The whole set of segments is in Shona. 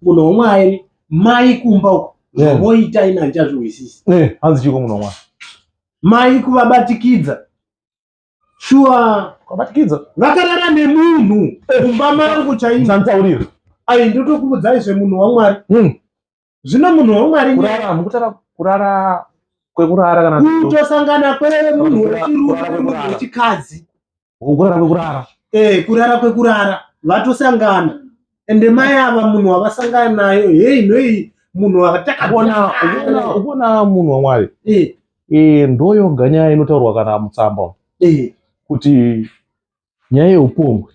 Munhu wamwari mai kumba uko yeah. voita ina ndichazvihwisisi yeah. hanzi chiko munhu wamwari mai kuvabatikidza shuwa kuvabatikidza vakarara nemunhu eh. kumba mari kuchainanditaurira ai ndotokuudzai zvemunhu wamwari mm. zvino munhu wamwari kurara mukutara kurara kwekurara kana kutosangana kwemunhu wechirume wechikadzi kurara kwekurara eh kurara kwekurara vatosangana ende mai ava munhu wavasangana nayo hei nhoi munhu watakabona ukona munhu wamwari eh eh ndoyo ganya inotaurwa kana mutsamba eh kuti nyaya yeupombwe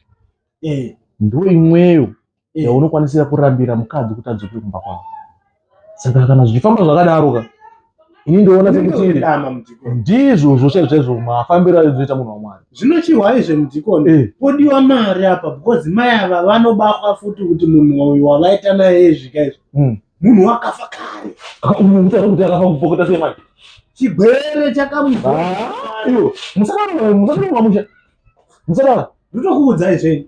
eh ndoimweyo yeah. Eh. unokwanisira kurambira mukadzi kuti adzoke kumba kwavo saka kana zvichifamba zvakadaro ka ini ndoona sekuti ndizvo zvochaizvo chaizvo mafambiro aizoita munhu wamwari zvinochihwa izve mudhikoni eh. podiwa mari apa because mai ava vanobatwa futi kuti munhu uyu wavaita naye zvika izvo hmm. munhu wakafa kare unotaura kuti akafa kupokota sei manje chigwere chakamumusakara musakara musakara ndotokuudzai zveni